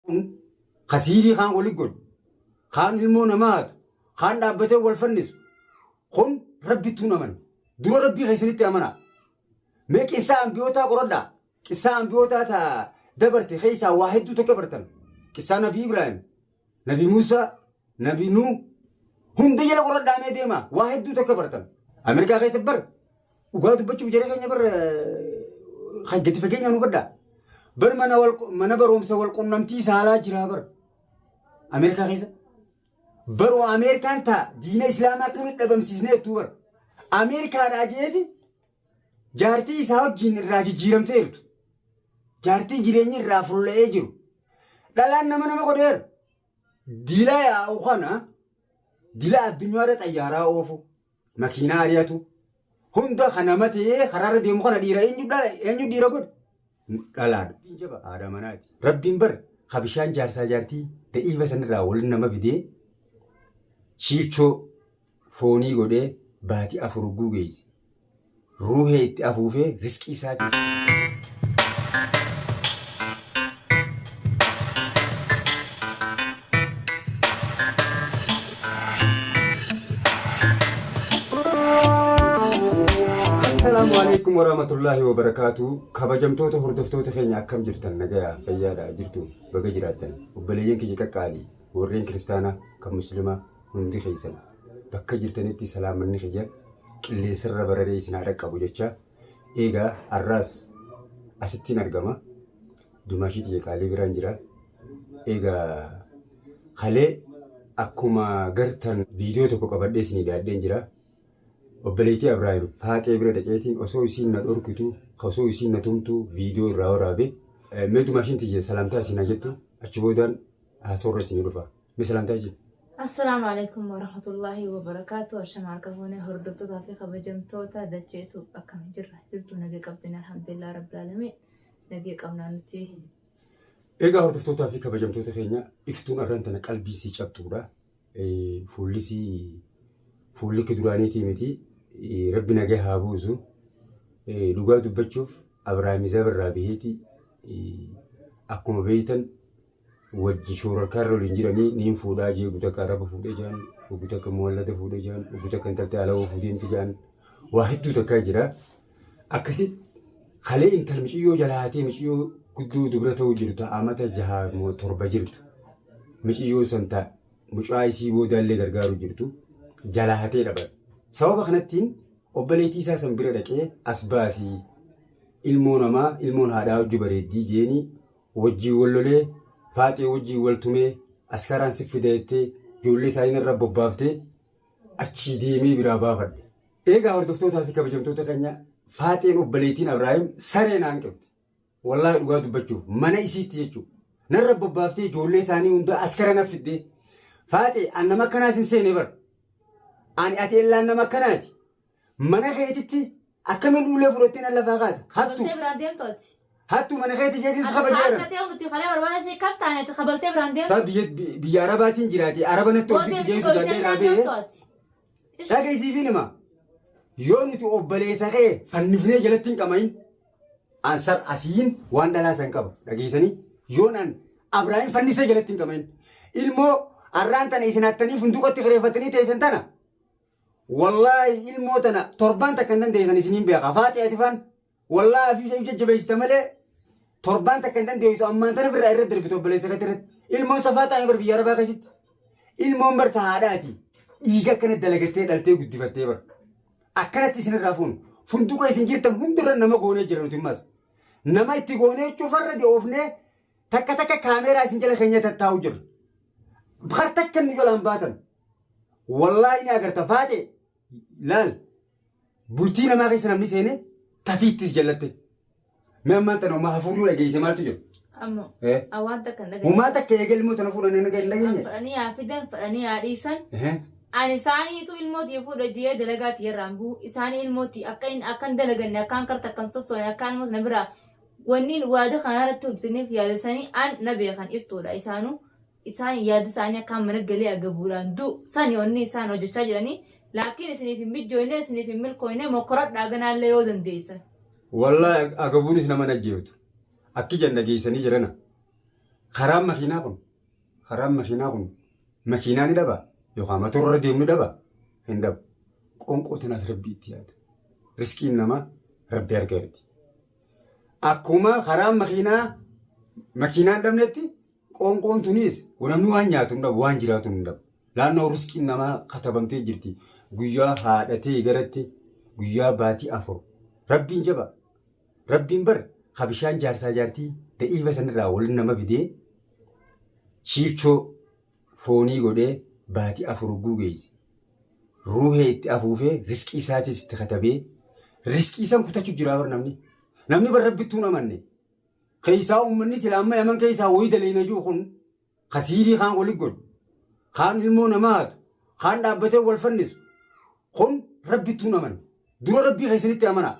kun ka siirii kaan wali godhu kaan ilmoo namaa hatu kaan dhaabbatee wal fannisu kun rabbittuu hin amanne dura rabbii keessanitti amanaa mee qissaa ambiyootaa qoradhaa qissaa ambiyootaa ta dabarte keessaa waa hedduu takka bartan qissaa nabii ibraahim nabii muusaa nabii nuu hunda jala qoradhaa mee deemaa waa hedduu takka bartan ameerikaa keessa bar Dhugaa dubbachuuf jara keenya bar kan gadi fageenyaan hubadha. Bar mana wal mana barumsa wal qunnamtii saalaa jira bar. Ameerikaa keessa. Baroo Ameerikaan taa diina Islaamaa akkamitti dhabamsiisnee jettuu bar. Ameerikaadhaa jeeti jaartii isaa wajjin irraa jijjiiramtee jirtu. Jaartii jireenyi irraa fulla'ee jiru. Dhalaan nama nama godheera. Dila yaa'u kana dila addunyaarra xayyaaraa oofu. makiinaa ari'atu hunda kan nama ta'ee karaarra deemu kana dhiira eenyu dhiira godhe dhalaadha. Rabbiin jaba haadha manaati. Rabbiin bar ka bishaan jaarsaa jaartii da'iifa sanirraa waliin nama fidee shiilchoo foonii godhee baati afur hogguu geesse. Ruuhee itti afuufee risqii isaatiif. Assalaamu alaikum warahmatullaahi wabarakaatuu. Kabajamtoota hordoftoota keenya akkam jirtan nagayaa fayyaadha jirtu baga jiraattan obboleeyyan keenya qaqqaalii warreen kiristaanaa kan muslimaa hundi keessan bakka jirtanitti salaamanni kiyya qilleensarra bararee isin haa dhaqqabu jecha eegaa har'aas asittiin argama dumaashii tiyya qaalii biraan jira eegaa kalee akkuma gartan viidiyoo tokko qabadhee isinii daadheen jira obboleettii Abiraahim faaxee bira dhaqeetiin osoo isiin na dhorkitu osoo isiin na tumtu viidiyoo irraa waraabe mee dumaashiin tiyya salaamtaa isin haa jettu achi boodaan haasoorra isinii dhufa. Misilanta iji. Assalaamu Aleeykum Warahmatullaahi Wabarakaatu Ashama harka fuunee hordoftotaa fi kabajamtoota dachee tuub akkam jirra jirtu nagee qabdin alhamdulillah rabbil aalamiin nagee qabnaa nuti Egaa hordoftootaa fi kabajamtoota keenya iftuun arran tana qalbii sii cabxuudha. Eh, Fuulli sii fuulli kee duraaniitii miti. Eh, Rabbi nagaa haa buusu. Eh, Dhugaa dubbachuuf Abrahaam Izaab irraa baheeti eh, akkuma beeytan wajji shuurarkaarra waliin jiranii niin fuudhaa jee ugu takka araba fuudhee jaan ugu takka muwallada fuudhee jaan ugu takka intalti ala oofuu deemti jaan waa hedduu takkaa jira akkasi kalee intal miciyyoo jalaa hatee miciyyoo guddoo dubra ta'uu jiru ta amata jaha moo torba jirtu miciyyoo san ta mucaa isii boodaallee gargaaruu jirtu jalaa hatee dhaban sababa kanattiin obbaleetii isaa san bira dhaqee as baasii ilmoo namaa ilmoon haadhaa hojju bareeddii jeenii wajjiin wal lolee faaxee wajjiin wal tumee askaraan si fida jettee ijoollee isaanii narra bobbaaftee achii deemee biraa baafadhe. Eegaa hordoftootaa fi kabajamtoota keenya faaxeen obboleettiin Abraahim saree naan qibxe. Wallaahi dhugaa dubbachuuf mana isiitti jechuudha. Narra bobbaaftee ijoollee isaanii hundaa askara na fiddee. Faaxee an nama akkanaas hin seene bara. Ani ati ellaan nama akkanaati. Mana keetitti akkamiin ulee fudhattee nan lafaa kaate? Hattu! Kabaltee biraan deemtu ati. Hattu mana keetti isheetiin si Ati kabajee haadha jiran. ta'ee nuti kalee barbaada si kaf taane ati kabaltee biraan deemtu. Isaa biyya biyya arabaatiin jiraate araba natti Booddee obsitti nuti jeen sodaadhee dhoksitee irraa biraan deemtu ba'e. ati. Ish. Dhaga isiifiin hima. Yoo nuti obboleessa kee fannifnee jalatti hin qamain. Ansar asiin waan dhalaa san qaba. Dhageessanii yoon an Abraahim fannisee jalatti hin qamain. Ilmoo arraan tana isin hattanii funduqatti kireeffattanii teessan tana. Wallahi ilmoo tana torbaan takka hin dandeessan isiniin beeka faaxi ati faan wallahi afiif if jajjabeessita malee torbaan takka hin dandeessu ammaan tana firraa irra darbite obboleessa keetti irratti ilmoon safaa taa'e bar biyya arabaa keessatti ilmoon bar tahaadhaati dhiiga akkana dalagattee dhaltee guddifattee bar akkanatti isinirraa fuunu funduqa isin jirtan hundirra nama goonee jira nuti ammas nama itti goonee cufarra de'oofnee takka takka kaameeraa isin jala keenya tattaa'u jirra. Har takka nu jalaan baatan. Wallaahi ni agarta faate laal bultii namaa keessa namni seene tafiittis jallatte. Mee ammaan tana homaa hafuurri wal geesse maaltu jiru? Ammo Eh. a waan takka hin dhageenye. Homaa takka eegale immoo tana fuudhan naga hin dhageenye. Fadhanii haa fidan fadhanii haa dhiisan. Ehe. Ani isaaniitu ilmoo tiyya fuudha jee dalagaa tiyya irraan bu'u. Isaanii ilmoo tiyya akka hin akkan dalaganne akkaan karta akkan sossoone akkaan ilmoo na biraa wanni waada kanarratti hojjetaniif yaada isaanii an na beekan iftuudha isaanuu isaan yaadi isaanii akkaan mana galee agabuudhaan du, sani onni isaan hojjechaa jiranii laakkiin isiniif hin mijjooynee isiniif hin milkooynee mokkoradhaa ganaallee yoo dandeeysan. Wallahi ag agabuunis nama hin ajjeeftu akki jan dhageeysanii jirana karaan makiinaa kun karaan makiinaa kun makiinaa ni dhaba yokaa matoora irra deemu ni dhaba hin dhabu qonqoo tanaas rabbi itti yaada risqiin namaa rabbi harka irrati akkuma karaan makiinaa makiinaa hin dhabnetti Qoonqoon tunis namni waan nyaatu hin dhabu, waan jiraatu hin dhabu. Naannoo risqiin namaa katabamtee jirti. Guyyaa haadhatee garatti guyyaa baatii afur. Rabbiin jaba. Rabbiin bar ka bishaan jaarsaa jaartii da'iifa sanirraa waliin nama fidee shiirchoo foonii godhee baatii afur hogguu geesse. Ruuhee itti afuufee risqii isaatis itti katabee risqii san kutachuu jiraa bar namni. Namni bar rabbittuun amanne. Keessaa ummanni sila amma yaman keessaa woyi daleeyna jiru kun ka siirii kaan wali godhu kaan ilmoo namaa hatu kaan dhaabbatee wal fannisu kun rabbittuu hin amanne dura rabbii keessanitti amanaa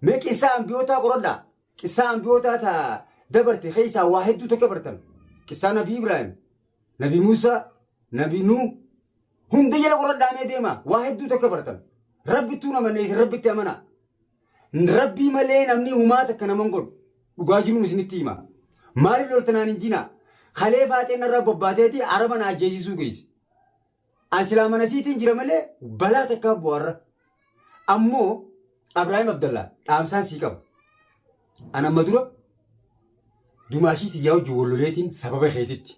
mee qissaa ambiyootaa qoradhaa qissaa ambiyootaa ta dabarte keessaa waa hedduu takka bartan qissaa nabii ibraahim nabii muusaa nabii nuu hunda jala qoradhaa mee deemaa waa hedduu takka bartan rabbittuu hin amanne isin rabbitti amanaa Rabbii malee namni humaa takka naman godhu. Dhugaa jiruun isinitti hima. Maaliif loltanaan hin jinaa? Kalee faaxeen narraa bobbaateeti araba na ajjeesisuu geesse. An silaa manasiitiin jira malee balaa takkaa bu'arra. Ammoo Abraahim Abdallaa dhaamsaan sii qaba. An amma dura dumaashii tiyyaa wajjin walloleetiin sababa keetitti.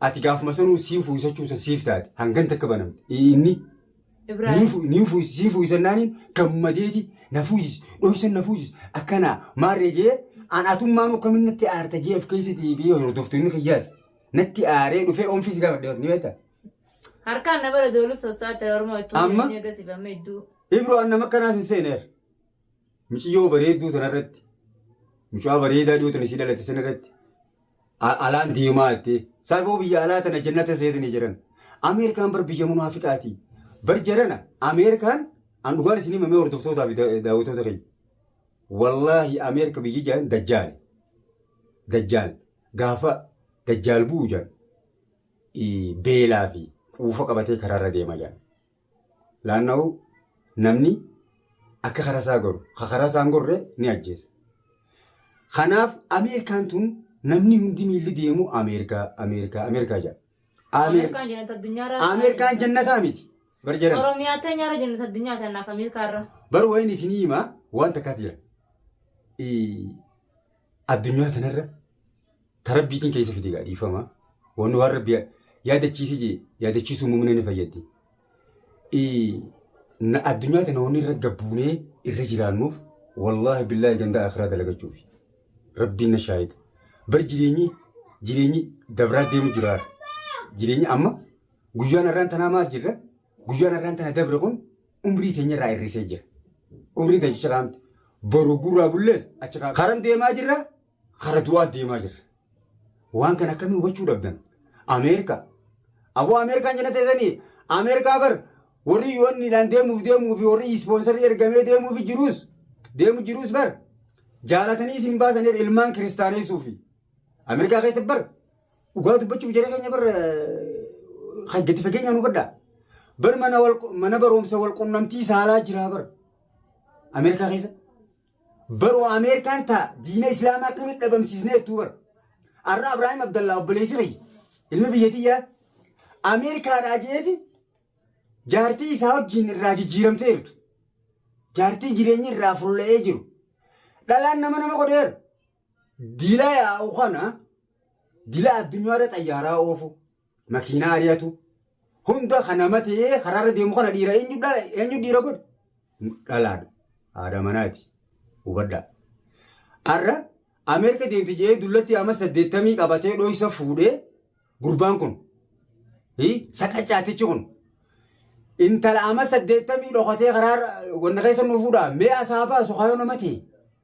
Ati gaafuma sanuu sii fuusachuu san siif taate hangan takka banamte. Inni ni fuusi sii fuusannaaniin gammadeeti na fuusis dhoysan na fuusis akkana maarree jee an atummaan akkamin natti aarta jee of keessatti biyya hordoftoonni kiyyaas natti aaree dhufee oomfii si gaafadhe ni beekta. Harkaan na bara dooluu sossaatti oromoo ittuu Amma? jedhanii agarsiifamee idduu. Ibro an nama akkanaas hin seeneer. Miciyyoo bareedduu tanarratti mucaa bareedaa dhiyoo tana isii dhalate sanarratti alaan deemaa jettee saafoo biyya alaa tana jannata seetanii jiran Ameerikaan bar biyya munaafiqaati bar jarana Ameerikaan an dhugaan isin himamee hordoftootaa fi daawwatoota keenya wallaahi Ameerika biyyi jaan dajjaale dajjaal gaafa dajjaal bu'u jaan beelaa fi quufa qabatee karaarra deema jaan. Laannahu namni akka karaa isaa goru, ka karaa isaa hin gorre ni ajjeesa. Kanaaf Ameerikaan tun namni hundi miilli deemu Ameerikaa, Ameerikaa, Ameerikaa jedha. Amee- Ameerikaan jannata addunyaa irraa. Ameerikaan jannataa miti. Bar jedhan. Oromiyaa teenya irra jannata addunyaa ta'e naaf Ameerikaa irra. Bar wayin isinii hima waan takkaas jira. Ii, Addunyaa tanarra ta rabbiitiin keessa fide gaa dhiifama. Wanni waan rabbi yaadachiisi jee yaadachiisuu muumina ni fayyaddi. Addunyaa tana wanni irra gabbuunee irra jiraannuuf wallaahi billaahi gandaa akiraa dalagachuuf. Rabbiin na shaahida. Bar jireenyi jireenyi dabraa deemu jira. Jireenyi amma guyyaan har'aan tanaa maal jirra? Guyyaan har'aan tana dabre kun umrii keenya irraa hir'isee jira. Umriin keenya achirraa miti. Boru gurraa bullees achirraa karan deemaa jirra, kara du'aa deemaa jirra. Waan kana akkamii hubachuu dhabdan? Ameerikaa. Aboo Ameerikaan jenna teessanii Ameerikaa bar warri yoonniidhaan deemuuf deemuu fi warri ispoonsarii ergamee deemuuf jiruus deemu jiruus bar jaalatanii isin baasan ilmaan kiristaaneessuu fi Ameerikaa keessa bar Dhugaa dubbachuuf jara keenya bar gadi fageenyaan hubadhaa. Bar mana wal mana barumsa wal qunnamtii saalaa jiraa bar Ameerikaa keessa. Baroo Ameerikaan taa diina Islaamaa akkamitti dhabamsiisnee jettuu bar. Arra Abiraahim Abdallaa obboleessi kiyya ilmi biyyatiyyaa Ameerikaadhaa jeeti jaartii isaa wajjin irraa jijjiiramtee jirtu. Jaartii jireenyi irraa fulla'ee jiru. Dhalaan nama nama godheera. Dila yaa'u kana dila addunyaarra xayyaaraa oofu, makiinaa ari'atu, hunda kana matee karaarra deemu kana dhiira eenyu dhiira godhe? Dhalaadha. Haadha manaati. Hubadhaa. Har'a Ameerika deemti jedhee dullatti amma saddeettamii qabatee dhoysa fuudhee gurbaan kun. Saqacaatichi kun. Intala amma saddeettamii dhokatee karaarra wanna keessa nu fuudhaa mee asaa baasu kaayoo nama ta'e.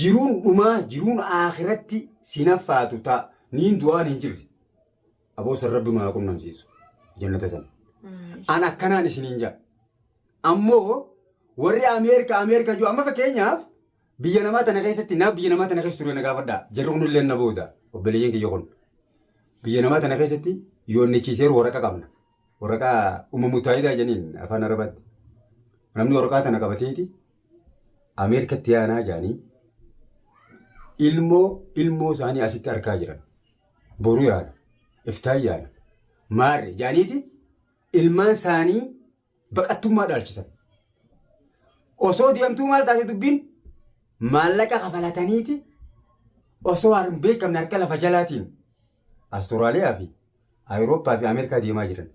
jiruun dhumaa jiruun aakhiratti siin haffaatu ta niin du'aan hin jirre aboo san rabbi nu haa qunnamsiisu jannata san an akkanaan isiniin jaa ammoo warri ameerika ameerika jiru amma fakkeenyaaf biyya namaa tana keessatti naa biyya namaa tana keessa ture na gaafadha jarri kun illee na booda obboleeyyan kiyya kun biyya namaa tana keessatti yoonnichiiseeru waraqa qabna waraqaa umma mutaayidaa janiin afaan arabaatti namni waraqaa tana qabateeti Ameerikatti yaanaa jaanii ilmoo ilmoo isaanii asitti arkaa jiran. Boru yaana. Iftaan yaana. Maarre jaaniiti ilmaan isaanii baqattummaa dhaalchisan. Osoo deemtuu maal taate dubbiin maallaqa kafalataniiti osoo hin beekamne harka lafa jalaatiin Asturaaliyaa fi Awurooppaa fi Ameerikaa deemaa jiran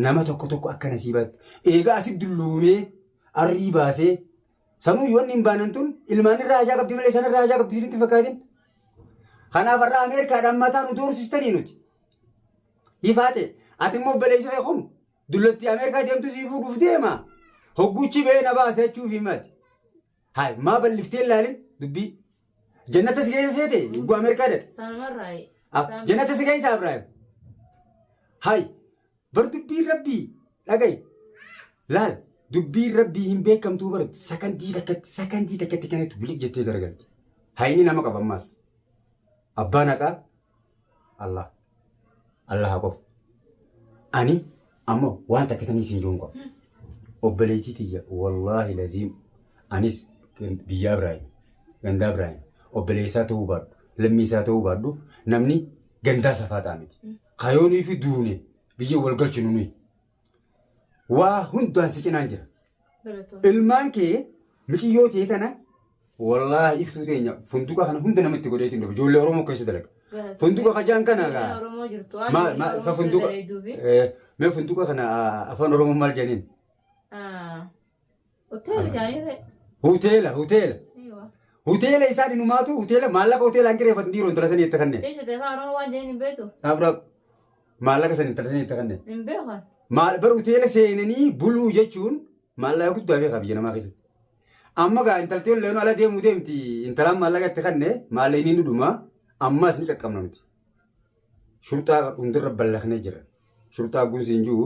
nama tokko tokko akka nasiibaatti eegaa asi dulloomee arrii baasee sanuu yoonni hin baanan tun ilmaan irraa hajaa qabdi malee sanarraa hajaa qabdi isinitti fakkaatin. Kanaaf har'a Ameerikaadhaan mataa nu doorsistanii nuti. Ifaa ta'e ati immoo obboleessi kee kun dullatti Ameerikaa deemtu sii fuudhuuf deema hogguuchi ba'ee na baasa jechuuf himati. Haay maa balliftee hin laalin dubbii. Jannata si keessa seete ugguu Ameerikaa dhaqe. Sanumarraa. Ah, Jannata si keessa Abiraayim. Haay bar dubbiin rabbii dhagayi. Laal dubbiin rabbii hin beekamtuu bar sakandii takkatti sakandii takkatti kanatti biliq jettee garagalti. Haayini nama qaba ammaas. Abbaan haqaa Allah. Allaha qofa. Ani amma waan takka tanii siin joon qofa. Obboleettii tiyya wallaahi laziim anis gan- biyya Abiraayim gandaa Abiraayim obboleessaa ta'uu baadhu lammii isaa ta'uu baadhu namni gandaa safaaxaa miti. Kayoonii fi duune biyya wal galchinu nuyi. Waa hundaan si cinaan jira. Galatoomii. Ilmaan kee miciyyoo tee tana wallaahi iftuu teenya funduqa kana hunda namatti godheetiin dhufe. Ijoollee Oromoo keessa dalaga. Galatoomii. Funduqa kajaan kana Ijoollee gaa. Oromoo jirtu waan Maal ijoollee maal Oromoo sa keessa funduqa daleeduufi. eh, mee funduqa kana ah, afaan Oromoo maal jedhaniin? Ah, Hoteela Amen. jaanii ree. Hoteela, hoteela. Eewa. Hoteela isaan inumaatu hoteela maallaqa hoteelaan kireeffatu dhiiroo intala sanii itti kanneen. Dhiisha ta'e afaan Oromoo waan jedheen hin beektu. Dhaab dhaab. Maallaqa san intala sanii itti kanneen. Hin beekan. Maal bar hoteela seenanii buluu jechuun maallaqa guddaa fi qabiyya namaa keessatti. Amma gaa intalti olleen ala deemuu deemti intalaan maallaqa itti kannee maallaqa inni dhuma ammaas ni qaqqabna nuti. Shurxaa hundirra ballaqnee jira. Shurxaa gunsi hin jiru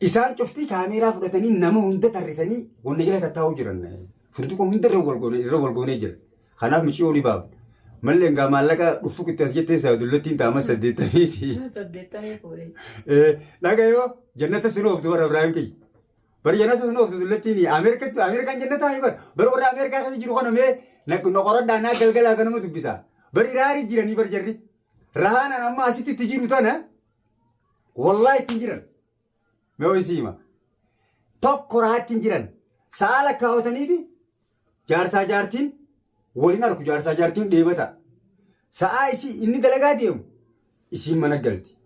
Isaan cuftii kaameeraa fudhatanii nama hunda tarrisanii wanna jala tattaa'uu jiran. Funduqa hunda irra wal goone irra wal goonee jira. Kanaaf miciyoo ni baafna. Malli hangaa maallaqa dhuffuk itti as jetteen saadullattiin taama saddeettamii fi Saddeettamii fuudhee. Eh, dhagayoo jannata sin ooftu bara Ibrahim kiyya. Bara jannata sin ooftu dullattiin Ameerikatti Ameerikaan jannataa hibar. Bara warra Ameerikaa keessa jiru kana mee na na qoradhaa naa galgalaa ganama dubbisaa. Bara iraarii jiranii bar jarri. Rahaanaan amma asitti itti jiru tana Wallahi ittiin jiran. Mee ho'i siima. Tokko rahaa ittiin jiran. Sa'a lakkaawataniiti jaarsaa jaartiin waliin arku jaarsaa jaartiin dheebata. Sa'a isii inni dalagaa deemu isiin mana galti.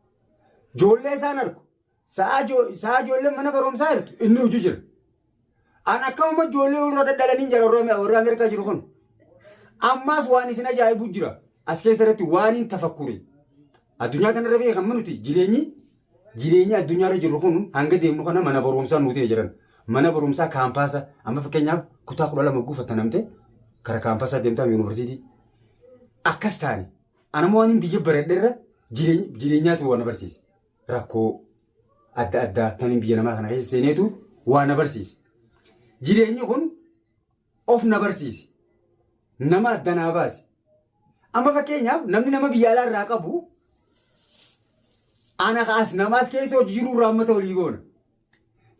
Joollee isaan arku. Sa'a joo- sa'a joolleen mana barumsaa jirtu inni hojii jira. An akka amma ijoollee warra dadhalaniin jira warra warra Ameerikaa jiru kun. Ammaas waan isin ajaa'ibu jira. As keessa irratti waan hin tafakkure. Addunyaa kanarra biyya kan manuti jireenyi jireenyi addunyaarra jirru kun hanga deemnu kana mana barumsaa nu ta'e jiran. Mana barumsaa kaampaasa amma fakkeenyaaf kutaa kudha lama guufatta namte kara kaampaasaa deemtaa yuunivarsiitii. Akkas taane. Anammoo waan hin biyya baradherra jireenyaatu waan na barsiise. rakkoo adda addaa tanin biyya namaa kana keessa seeneetu waa na barsiise. Jireenyi kun of na barsiise. Nama adda naa baase. Amma fakkeenyaaf namni nama biyya alaa irraa qabu ana kaas namaas keessa hojii jiru irraa hammata walii goona.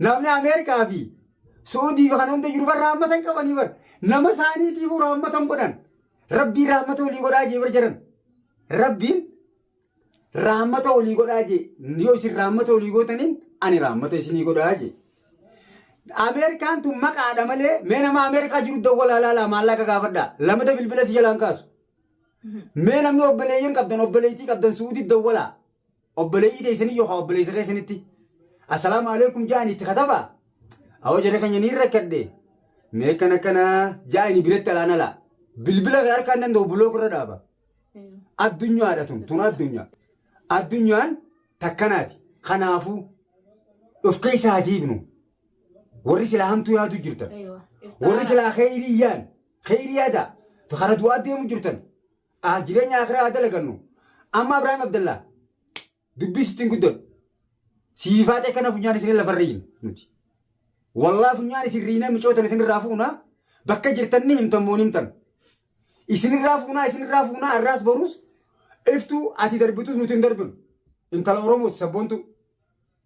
Namni Ameerikaa fi Suudii fi kan hunda jiru barra hammatan qabanii bar. Nama isaaniitiifuu raammatan godhan. Rabbii raammata walii godhaa jee bar jedhan. Rabbiin Raammata olii godhaa jee. Yoo isin raammata olii gootaniin ani raammata isinii godhaa jee. Ameerikaan tun maqaadha malee mee nama Ameerikaa jiru dawwalaa laalaa maallaqa gaafadha. Lamada bilbila si jalaan kaasu. Mee namni obboleeyyan qabdan obboleeytii qabdan suudii dawwalaa. Obboleeyyii teessanii yookaan obboleessa keessanitti. Assalaamu alaikum ja'an itti katabaa. Awwa jarri keenya ni rakkadhe. Mee akkana akkana ja'ani biratti alaan alaa. Bilbila kee harkaan danda'u bulook irra dhaaba. Addunyaadha tun tun addunyaa. Addunyaan takkanaati. Kanaafuu of keessa haa diignu. Warri silaa hamtuu yaaduu jirtan. Warri silaa kheyrii yaan kheyrii yaadaa. Kara du'aa deemu jirtan. Ah, Jireenya akiraa haa dalagannu. Amma Ibraahim Abdallaa Dubbii sittiin guddadhu. Siif haatee kana funyaan isin lafa riina nuti. Wallaa funyaan isin riinee micootan isin irraa fuunaa bakka jirtan ni himtan moo ni himtan. Isin irraa fuunaa isin irraa fuunaa arraas boruus iftuu ati darbitus nuti hin darbinu. Intala Oromooti sabboontuu.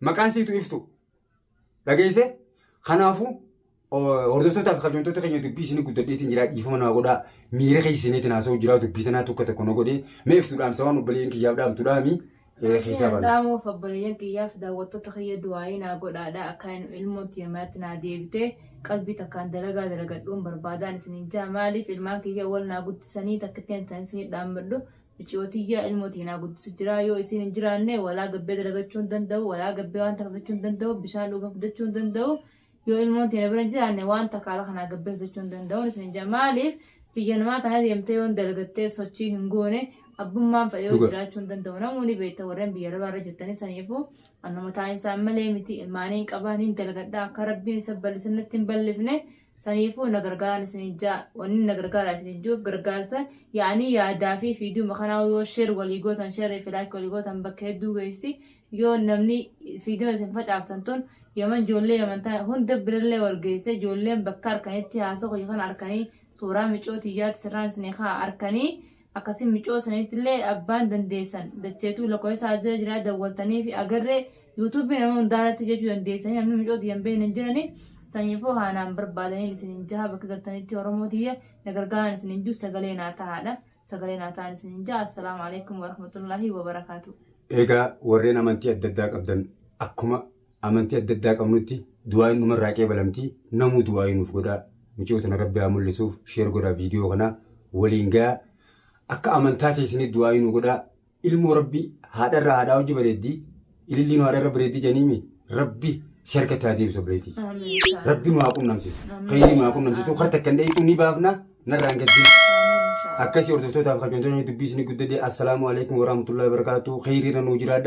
Maqaan siitu iftuu. dhageesse kanaafu hordoftoota fi kabajamtoota keenya dubbii isinii guddadheetiin jiraa dhiifama naa godhaa miira keessa seeneetiin haasa'u jiraa dubbii tanaa tokko tokko na godhee mee iftu dhaamsa waan obboleeyyan kiyyaaf dhaamtu dhaami Asiin keessaa bana. dhaamuuf obboleeyyan kiyyaaf daawwattoota kiyya du'aayii naa godhaadha akka hin ilmoon tiyya manatti naa deebitee qalbii takkaan dalagaa dalagadhuun barbaadaan isiniin jaa maaliif ilmaan kiyya wal naa guddisanii takkittiin tan isinii dhaammadhu Miciyo tiyya ilmo tee naa guddisu jiraa yoo isiin hin jiraanne walaa gabbee dalagachuu hin danda'u walaa gabbee waan takka fidachuu hin danda'u bishaan dhugan fidachuu hin danda'u yoo ilmoon tee na bira hin jiraanne waan takka ala kanaa gabbee fidachuu hin danda'u isin jaa maaliif biyya namaa tana deemtee yoon dalagattee sochii hin goone abbummaan fedhee Dhuga. jiraachuu hin danda'u namuu ni beekta warreen biyya arabaa irra jirtanii saniifuu annuma taa'insa ammalee miti ilmaaniin qabaa niin dalagadhaa akka rabbiin isa ballisan natti hin ballifne Saniifuu na gargaaran isiniin ja'a. Wannin na gargaaraa isiniin ju'uuf gargaarsa ya'anii yaadaa fi fiidiyooma kanaa yoo share walii gootan share fi like walii gootan bakka hedduu geessi. Yoo namni fiidiyoon isin facaaftan tun yaman joollee yaman ta'an hunda birallee wal geesse joolleen bakka arkanitti haasoo kiyya kana arkanii suuraa micoo tiyyaatti sirraan isinii ka'a arkanii Akkasi micoo sanitillee abbaan dandeessan dacheetuu lakoesaa ajira jiraa dawwaltaniifi agarre YouTube nama hundaarratti jechuu dandeessanii namni micoo tiyyan beekne hin jirani sanyifoo haanaan barbaadaniin isinin jaha bakka gartanitti oromoo tiyya na gargaaran isinin juu sagalee naa tahaadha sagalee naa tahan isinin jaha assalaamu alaikum warahmatullahi wabarakaatu. Eegaa warreen amantii adda addaa qabdan akkuma Amantii adda addaa qabnutti du'aayin numarraa qeebalamti namuu du'aayii nuuf godhaa miciyoo tana rabbi haa mul'isuuf sheer godhaa viidiyoo kana waliin gayaa akka amantaa teessanii du'aayii nu godhaa ilmoo rabbi haadharraa haadhaa hojji bareeddi ililliin haadharra bareeddi janiimi rabbi si harkatti haa deebisu obleetii rabbi nu haa qunnamsiisu khayrii nu haa qunnamsiisu harta kan dheeyxuu ni baafna narraan gaddi akkasii hordoftootaaf kabajamtoota dubbii isin guddadee assalaamu alaikum warahmatullahi wabarakatuh khayriirra nuu jiraadha